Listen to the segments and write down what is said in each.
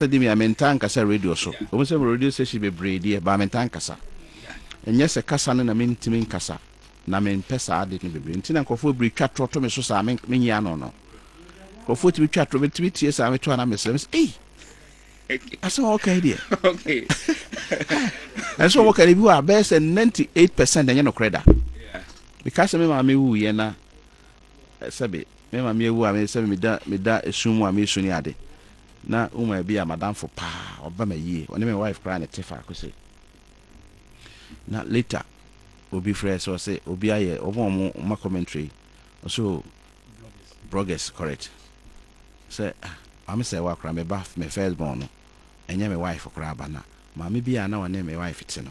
Sɛ dɛm yi a, mentaa nnkasa radio so. Ɔwom sɛ mowɔ radio station bebree deɛ, but mentaa nnkasa. Nnyɛ sɛ kasa no na menntumi nnkasa, na mempɛ saa ade no bebree nti na nkorɔfoɔ bebree twa torɔ to me so saa, mennyɛ ano no. Nkorɔfoɔ tumi twa torɔ, metumi tie saa meto a na mesrɛ, mesɛ ei! Asɛm a wɔka yi deɛ, ɛnsɛ sɛ wɔka no, ebi hɔ a bɛyɛ sɛ ninety eight percent ɛnyɛ nokorɛ da. Meka sɛ me maame wuiɛ na, Sɛbe me ma meawu a, sɛbe meda meda esum mu a meresu ne ade. Na woman bi a m'adamfo paa, ɔba me ayie, ɔne me wife koraa na ɛte faako sei. Na later obi frɛ sɛ ɔse obi ayɛ ɔmo a ɔmo ma commentary yi, ɔse oh Broggers correct, sɛ ah Maame Serwaa koraa me ba, me first born no ɛnyɛ me wife koraa ba na Maame bi a na ɔne me wife te no,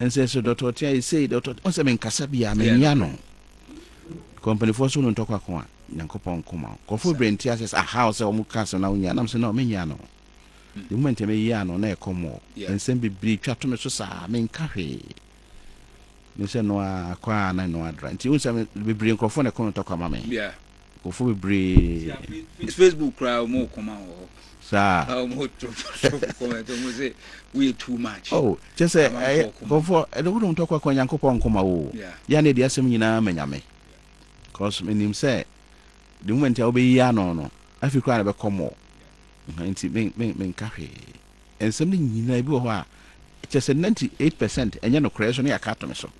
Ɛnsɛ sɛ dɔtɔ ɔte ayɛ sei, dɔtɔ ɔte. Ɔn sɛ menkasa bia, menwea no. Kɔ mpanifoɔ so wo no ntɔ kwako a, Nyankopɔn nko ma wo. Nkɔfoɔ bebree nte aseɛ sɛ aha wo sɛ wɔn ka asɛm na wonwea no. Nam sɛ no, menwea no. The moment a meyea no, na ɛkɔ mɔ. Nsɛm bebree twa to me so saa, menka hwee. Mesɛ no a, kɔ a na ɛno adra. Nti wohu sɛ bebree nkurɔfoɔ na ɛkɔ no ntɔkwa ma me. Nkurɔfoɔ bebree. Facebook koraa wɔn wɔ kɔma wɔ hɔ. Saa. A wɔn wɔ drop drop comment wɔn sɛ woyɛ too much. Oh kyɛ sɛ ɛyɛ nkurɔfoɔ ɛde wɔn tɔ kɔ kɔ Nyankopɔn nkɔma wo. Yɛ na ɛde asɛm nyinaa ma Nyame. Cause menim sɛ the moment a wobɛyi ano no afei koraa na bɛkɔ mɔ. Nti men men menka hwee. Nsɛm no nyinaa ebi wɔ hɔ a kyɛ sɛ 98% ɛnyɛ nokorɛ so ne yɛaka ato me so.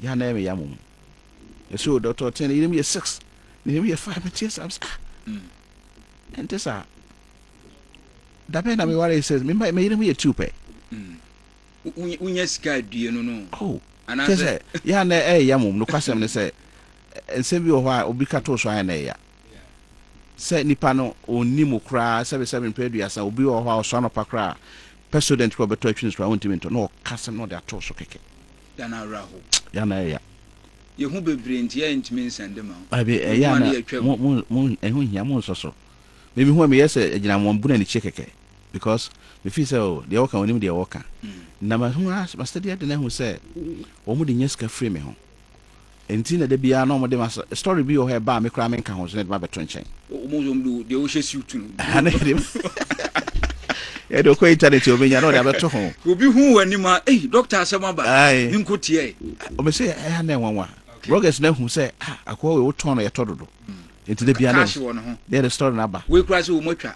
Yɛ a na ɛyɛ me ya mmom. Yɛ so dɔtɔ tee ne yere mu yɛ six. Ne yere mu yɛ five. Meteɛ saa sɛ ah. Ɛnte saa. Da bɛn na me ware six. Me mma me yere mu yɛ two pɛ. Wonya sika adue no no. Oh. Kyɛ sɛ yɛ a na ɛyɛ ya mmom. Nokwasɛm ne sɛ nsɛm bi wɔ hɔ a obi ka too so ayɛ na ɛyɛ ya. Sɛ nipa no ɔnni mu koraa sɛbesɛbe mpɛ aduasa obi wɔ hɔ a ɔsɔ anɔpa koraa pɛ sodɛn tipa ɔbɛtɔ atwi no so koraa ɔntumi ntɔ na ɔka asɛm na ɔde ato so kɛkɛ. da no ara hɔ. Ya na ɛya. Yɛhu bebree nti yɛ ntumi nsɛn de ma wo. Abi ɛyɛ a na mo mo mo ɛho hia mo nsɔ so. Me me hu a me yɛ sɛ ɛgyina wɔn bu na ne kyie kɛkɛ because me fi sɛ o deɛ wɔka wɔn nim deɛ wɔka na ma hu a ma sɛ deɛ de na hu sɛ wɔn de nya sika firi me ho. Nti na da biara na wɔde ma sɛ story bi wɔ hɔ a ɛba a me koraa menka ho so na ɛde ma bɛto nkyɛn. Wɔn deɛ wɔn deɛ wohyɛ siw to no. Ɛha na ɛde ɛde ɔkɔ internet a ɔbɛnya na ɔde abɛto ho. Obi hu wɔn anim a ei doctor asɛm aba ne nko teɛ. Ɔbɛ sɛ ɛha na ɛnwanwa. Bloggers na hu sɛ ah akoa wei wotɔn no yɛtɔ dodo. Nti da biara na yɛde story no aba. Wei koraa sɛ wɔn atwa.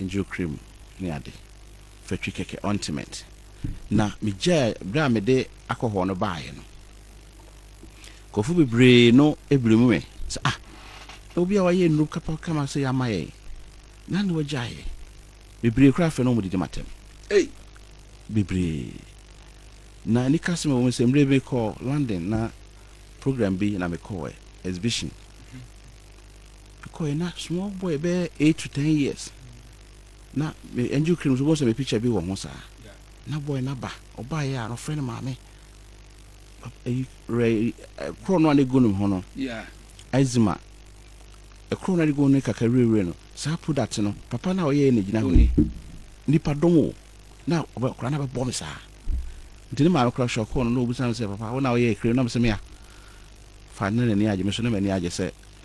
nkyerɛkyerɛ mu ne ade, fatwi kɛkɛ, ointment, na migyae bere a mede akɔhɔ no baeɛ no. Nkurɔfo bebree no bere mu me sɛ, ah, na obi a wayɛ nnuru kapa kama sɛ yɛama yɛn, na ne wagyaeɛ. Bebree koraa fɛ no wɔn didi matam. Ei, bebree. Na anikasɛm wɔ mu sɛ mmerɛ bi kɔ London na program bi na mekɔɛ, exhibition. Mekɔe na small boy bɛyɛ eight to ten years na me angel cream so bɔsɛ me picture bi wɔ ho saa na boy na ba ɔbaa yɛ a ɔfrɛ no maame ɛyi rɛ korɔ no a ne gu ne ho no eczema ɛkorɔ no a ne gu ne kakra wirewire no saa product no papa no a ɔyɛ yɛ na gyina ho ni nipa dɔm o na ɔbɛ ɔkora na bɛbɔ me saa nti ne maame kora hyɔkɔɔ no na ɔbisa me sɛ papa wo na ɔyɛ cream na me sɛ me a fa ne n'ani agye me so ne m'ani agye sɛ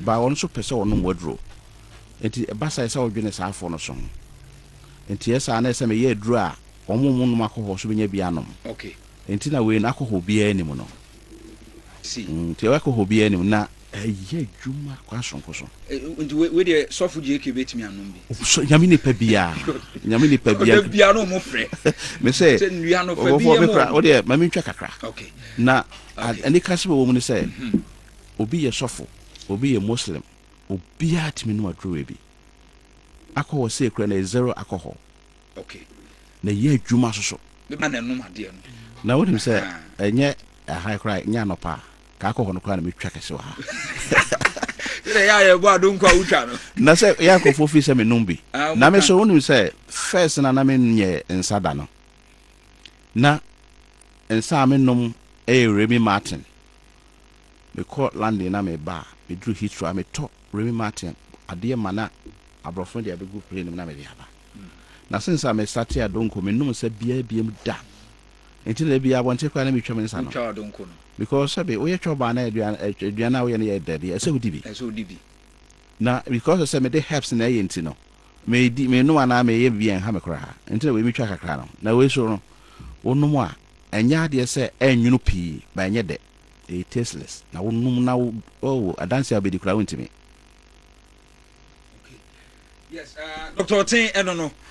Ba ɔno nso pɛ sɛ ɔnom w'aduro. Enti ɛba saa a, ɛsɛ sɛ wodwene saa afoɔ no so ho. Enti ɛyɛ saa na ɛsɛ sɛ meyɛ aduro a wɔn a wɔnnom akɔhɔɔ so bɛnya bi anom. Enti na wei no akɔhɔɔ biara nni mu no. Enti akɔhɔɔ biara nni mu na ɛyɛ adwuma kwan sononko so. Enti wei deɛ sɔfo JK bɛtumi anom bi? Nyame nipa biara, Nyame nipa biara. Ɔda biara na wɔfrɛ. Mesɛ, ɔbɔfoɔ me kora, wodeɛ ma mentwa kakra. Na anikasɛm a ɛwɔ mu ne sɛ, obi yɛ sɔfo, obi yɛ Muslim, obiara tumi nom aduro wei bi. Akɔ hɔ sei koraa na ɛyɛ zero alcohol. Okay. Na ɛyɛ adwuma nso so. Bɛma na ɛnom adeɛ no. Na wonim sɛ ɛnyɛ ahan koraa nyɛ anɔpa a ka akɔ hɔ no koraa na metwa kɛse wɔ ha. Sɛ yɛ a yɛbɔ adonko a wotwa no. Na sɛ yɛ nkurɔfoɔ fii sɛ menom bi. Ah, na me so wonim sɛ first na na menyɛ nsa da no. Na nsa a menom ɛyɛ Remy Martin. mekɔ London na meba a, meduru Heathrow a, metɔ Remy Martin adeɛ ma na aborɔfo no de abɛgu plane no mu na mede aba. Na since a mestartee adonko, mennom nsa biara biam da. Enti na da biara abɔnten koraa na metwa me nsa no. Wotwa adonko no? Because sɛbe woyɛ chɔba anaa aduan, aduan a woyɛ no yɛ dɛ deɛ, ɛsɛ wodi bi. Ɛsɛ wodi bi. Na because sɛ mede herbs na ɛyɛ nti no, Medi, menom anaa meyɛ biribi a ɛnha me koraa nti na wei metwa kakra no. Na wei so no, wonom a, ɛnyɛ adeɛ sɛ ɛnwono pii, but ɛnyɛ dɛ. Ɛyɛ tasteless. Na wonom na wo, oh, adanse a wobɛdi koraa wontumi. Okay. Yes, uh, Doctor Ɔten ɛno no.